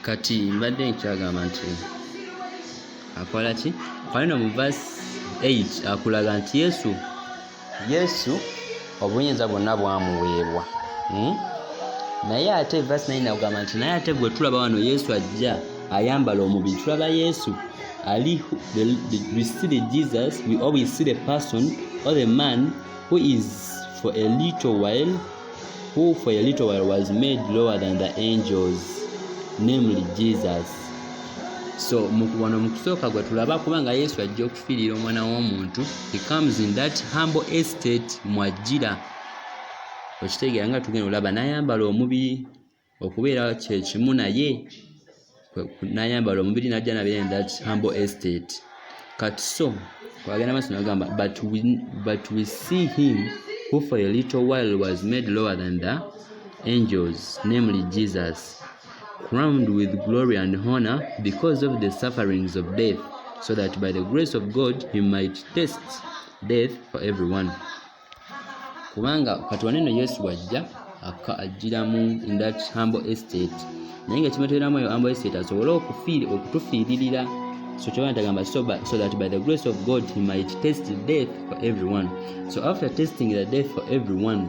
kati mbadde nkyagamba nti akola ki akola no mu vas 8 akulaga nti yesu yesu obuyinza bwonna bwamuweebwa hmm? naye ate vasi naye nagamba nti naye ate gwe tulaba wano yesu ajja ayambala omubiri tulaba yesu ali the, the, we see the jesus we always see the person or the man who is for a little while who for a little while was made lower than the angels namely jesus so wano mu kusooka gwe tulaba kubanga yesu ajja pilira omwana w'omuntu he comes in that humble estate mwajjira okitegeera nga tugenda olaba n'ayambala omubiri okubeera kyekimu naye n'ayambala omubiri najja nabeera in that humble estate kati so kwagenda maaso nagamba but we, but we see him who for a little while was made lower than the angels namely jesus crowned with glory and honor because of the sufferings of death so that by the grace of god he might test death for everyone kubanga kati waneno yesu wajja ajjiramu in that humble estate naye nga kimuteramu eyo humble estate asobole okutufiiririra so kyoba ntagamba so, so that by the grace of god he might test death for everyone so after testing the death for everyone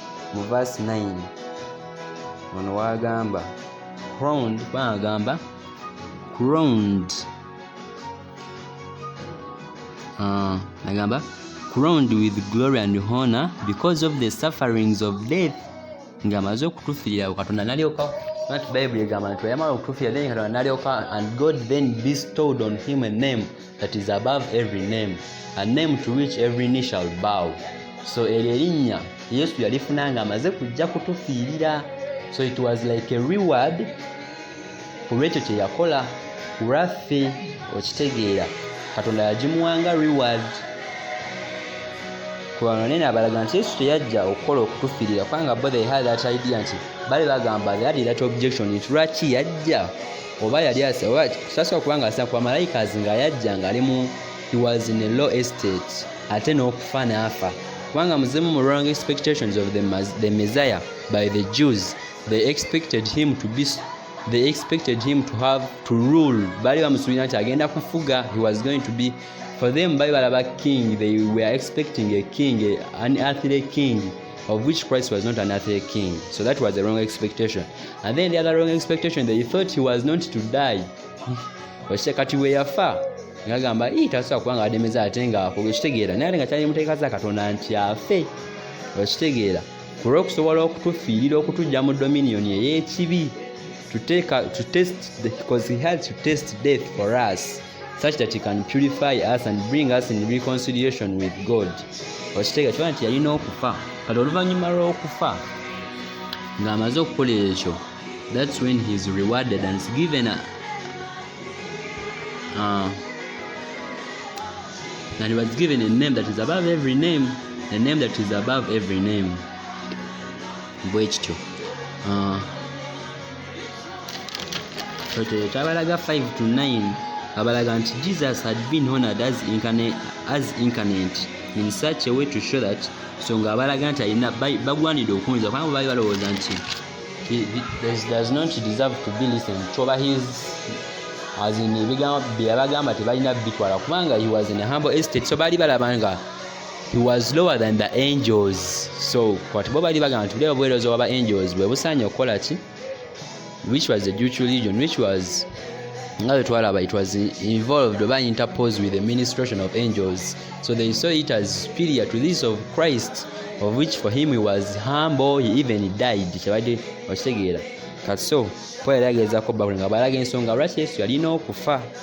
mu verse 9 ono wagamba crowned bagamba crowned uh, nagamba crowned with glory and honor because of the sufferings of death ng'amaze okutufiirira katonda nalyoka nti bayibuli egamba nti bwe yamala okutufiirira then katonda nalyoka and god then bestowed on him a name that is above every name a name to which every knee shall bow so eryo erinnya yesu yalifuna nga amaze kujja kutufiirira so it was like a reward ku lwekyo kye yakola ku lwaffe okitegeera katonda yagimuwanga reward kubanga naye nabalaga nti yesu teyajja okukola okutufirira kubanga bo they had that idea nti bali bagamba they had that objection nti lwaki yajja oba yali oba sasa okuba nga asina kuba malayika nga yajja nga ali mu he was in a low estate ate n'okufa n'afa kubanga muzimu mu wrong expectations of the, the messiah by the jews they expected him to be they expected him to have to rule baali bamusuubira nti agenda kufuga he was going to be for them baali balaba king they were expecting a king an earthly king of which Christ was not an earthly king. So that was the wrong expectation. And then the other wrong expectation, they thought he was not to die. Oshite kati we yafa. Ngagamba hii tasa kwanga ademeza atenga hapo. Oshitegeera. Nari nga chani muteka za katonda nti afe. Oshitegeera. Kuro okusobola okutufiirira okutujja mu dominion ey'ekibi to take to test because he had to test death for us such that he can purify us and bring us in reconciliation with god okiteega kiba nti yalina okufa kati oluvannyuma lw'okufa ng'amaze okukola ekyo that's when he is rewarded and is given a, uh, and he was given a name that is above every name a name that is above every name bwekityo uh, kyabalaga 5 to 9 abalaga nti jesus had been honored as incarnate, as incarnate in such a way to show that so nga abalaga nti alina bagwanidde okunza kubanga baali balowooza nti does not deserve to be listened to oba his as in ebigambo byeyabagamba tebalina bitwala kubanga he was in a humble estate so baali balaba nga he was lower than the angels so kati bo bali bagamba nti bulya obuweereza waba angels bwe busaanye okukola ki which was the jewish religion which was nga bwe twalaba it was involved oba interposed with the ministration of angels so they saw it as superior to this of christ of which for him he was humble he even died kyebadde okitegeera kati so paul yali ageezako bakuli nga balaga ensonga lwaki yesu yalina okufa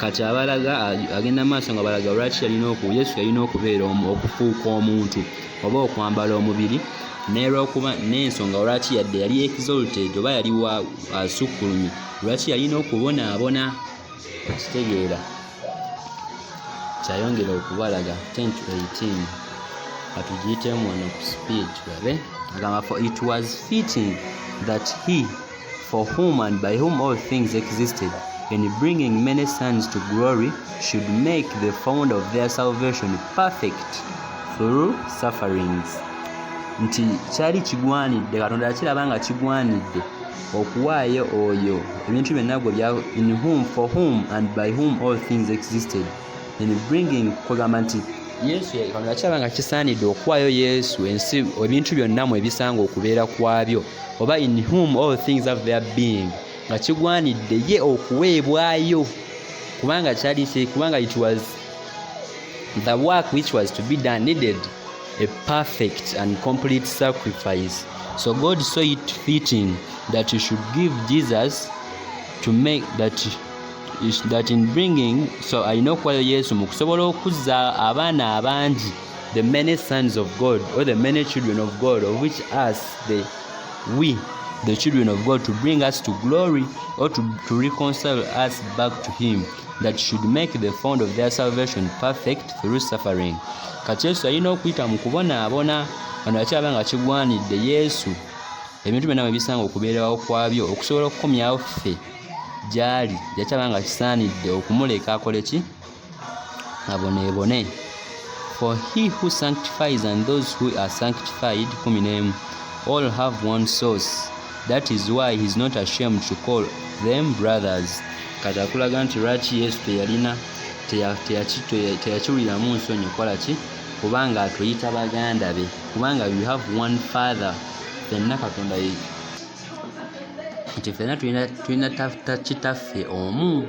kati abalaga agenda maaso nga balaga lwaki yalina oku yesu yalina okubeera okufuuka omuntu oba okwambala omubiri nerwokuba n'ensonga lwaki yadde yali exalted oba yali wa asukkulumye lwaki yalina okubonaabona okitegeera kyayongera okubalaga 1018 atugiyitemu wano ku speed babe agamba for it was fitting that he for whom and by whom all things existed, and bringing many sons to glory, should make the founder of their salvation perfect through sufferings. nti kyali kigwanidde katonda yakiraba nga kigwanidde okuwaayo oyo ebintu byonna gwe bya in whom for whom and by whom all things existed in bringing kwegamba nti yesu katonda yakiraba nga kisaanidde okuwaayo yesu ensi ebintu byonna mu ebisanga okubeera kwabyo oba in whom all things have their being nga kigwanidde ye okuweebwayo kubanga kyali kubanga it was the work which was to be done needed a perfect and complete sacrifice so god saw it fitting that he should give jesus to make that that in bringing so alina okuwayo yesu mu kusobola okuzza abaana abangi the many sons of God or the many children of God of which us the we the children of God to bring us to glory or to, to reconcile us back to him that should make the fond of their salvation perfect through suffering kati yesu alina okuyita mu kubonaabona wano yakyaba nga kigwanidde yesu ebintu byonna bwe bisanga okubeerawo kwabyo okusobola okukomyawo ffe gyali yakyaba nga kisaanidde okumuleka akole ki aboneebone for he who sanctifies and those who are sanctified kumi n'emu all have one source that is why he is not ashamed to call them brothers kati akulaga nti lwaki yesu teyalina teyakiwuliramu nsonyi okukola ki kubanga atuyita baganda be kubanga we have one father fenna katonda nti fenna tulina kitaffe omu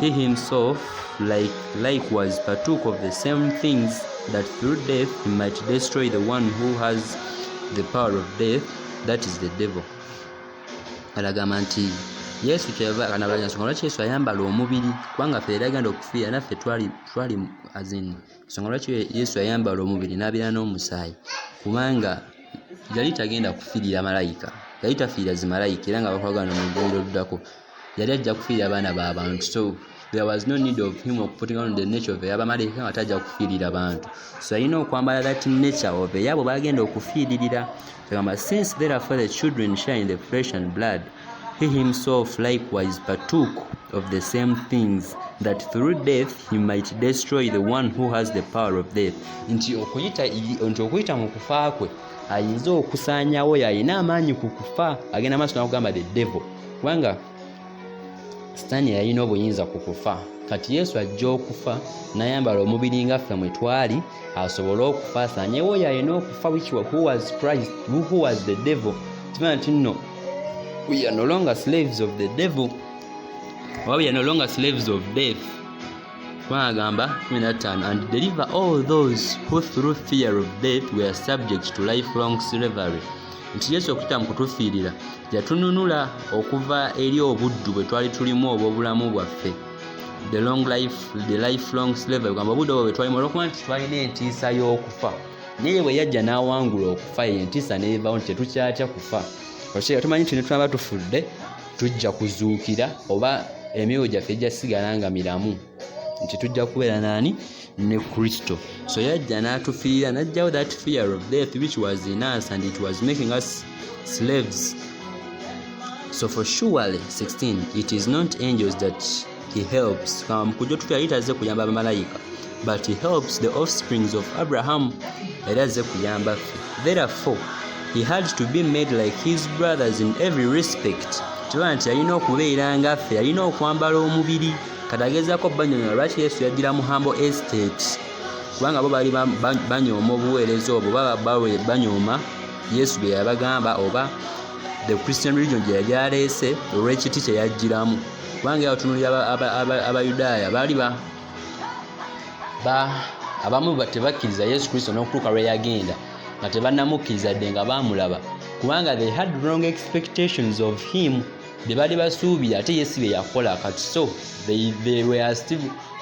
He himself like likewise partook of the same things that through death he might destroy the one who has the power of death that is the devil alagamba nti yesu kyeyavakanabansonga lwaki yesu ayambala omubiri kubanga fe yali agenda okufiira naffe twali twali azin nsonga lwaki yesu ayambala omubiri n'abeera n'omusaayi kubanga yali tagenda kufiirira malayika yali tafiira zimalayika era nga bakwagana mu ggulu oluddako yali ajja kufiirira abaana ba bantu so there was no need of him okuputinga on the nature of eyabamalaika nga tajja kufiirira bantu so yalina okwambala that nature of eyabo bagenda okufiiririra agamba since therefore the children share in the flesh and blood he himself likewise partook of the same things that through death he might destroy the one who has the power of death nti okuyita nti okuyita mu kufa kwe ayinza okusaanyawo yalina amaanyi ku kufa agenda maaso nakugamba the devil kubanga sitaani yalina obuyinza ku kufa kati yesu ajja okufa nayambala omubiri nga ffe mwe twali asobole okufa asanyewo oyo alina okufa was the devil kimana nti nno we are no longer slaves of the devil oba we are no longer slaves of death twagamba 15 and deliver all those who through fear of death were subject to lifelong slavery nti yesu okuyita mu kutufiirira yatununula okuva eri obuddu bwe twali tulimu obw'obulamu bwaffe the long life the lifelong slavery kugamba obudde obwo bwe twalimu olwokuba nti twalina entiisa y'okufa naye bwe yajja n'awangula okufa eyo entiisa neevawo nti tetukyatya kufa okyeera tumanyi nti netwaba tufudde tujja kuzuukira oba emyoyo gyaffe gyasigala nga miramu nti tujja kubeera naani ne kristo so yajja n'atufiira najjawo that fear of death which was in us and it was making us slaves so for surely 16 it is not angels that he helps kama mukujja otutu yali tazze kuyamba bamalayika but he helps the offsprings of abraham era azze kuyamba ffe therefore he had to be made like his brothers in every respect kiba nti yalina okubeera nga ffe yalina okwambala omubiri kati agezaako banyonyola lwaki yesu yajjira mu hambo estate kubanga bo baali banyooma obuweereza obwo baba banyooma yesu bye yabagamba oba the christian religion gye yali aleese olw'ekiti kye yajjiramu kubanga yabatunulira abayudaaya baali abamu tebakkiriza yesu kristo n'okutuuka lwe yagenda nga tebannamukkiriza dde nga baamulaba kubanga they had wrong expectations of him bye baali basuubira ate yesu bye yakola kati so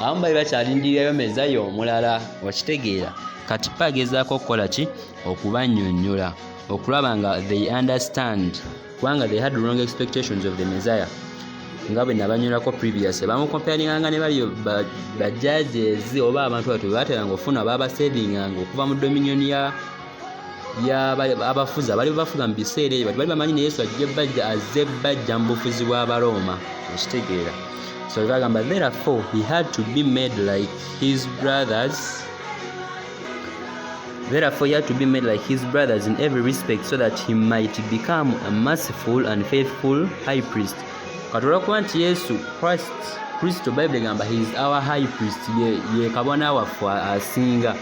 abamu bali bakyalindirirayo mezayo omulala okitegeera kati pa agezaako okukola ki okubanyonyola okulaba nga they understand kubanga they had wrong expectations of the messiah nga bwe nabanyolako previous bamukompyaringanga ne bali bajajezi oba abantu batu bebateranga okufuna babasedinganga okuva mu dominion ya abafuzi abali bafuga mu biseera ebyo bali bamanyi ne yesu ajja bajja azze bajja mu bufuzi bw'abarooma okitegeera so bagamba therefore he had to be made like his brothers Therefore, he had to be made like his brothers in every respect so that he might become a merciful and faithful high priest. katula kuba nti yesu christ kristo bayibuli egamba his our high priest ye, ye kabona waffe asinga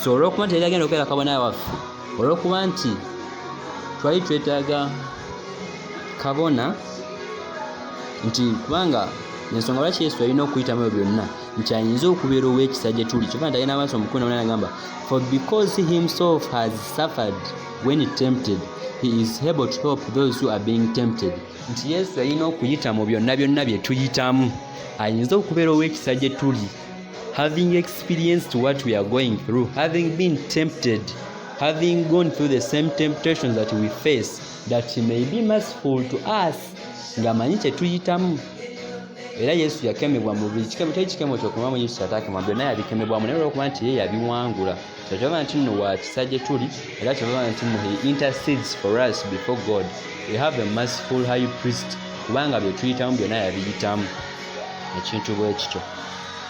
so olwokuba nti yali agenda okubeera kabona waffe olwokuba nti twali twetaaga kabona nti kubanga ensonga lwaki yesu alina okuyitamu ebyo byonna nti ayinza okubeera ow'ekisa gye tuli kyova nti agenda maaso omukulu naona agamba for because he himself has suffered when tempted he is able to help those who are being tempted nti yesu yalina okuyita mu byonna byonna bye tuyitamu ayinza okubeera ow'ekisa gye tuli having experienced what we are going through having been tempted having gone through the same temptations that we face that he may be merciful to us ng'amanyi kye tuyitamu era yesu yakemebwa mu buli kikemo teri kikemo kyokumamu yesu ataakemwa byonna yabikemebwamu naye olwokuba nti ye yabiwangula kyekyoba nti nno wa kisa gye tuli era kyebaba nti nno he intercedes for us before god we have a merciful high priest kubanga bye tuyitamu byonna yabiyitamu ekintu bwe kityo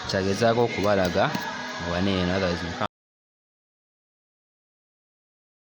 kyagezaako okubalaga obaneeno otherwise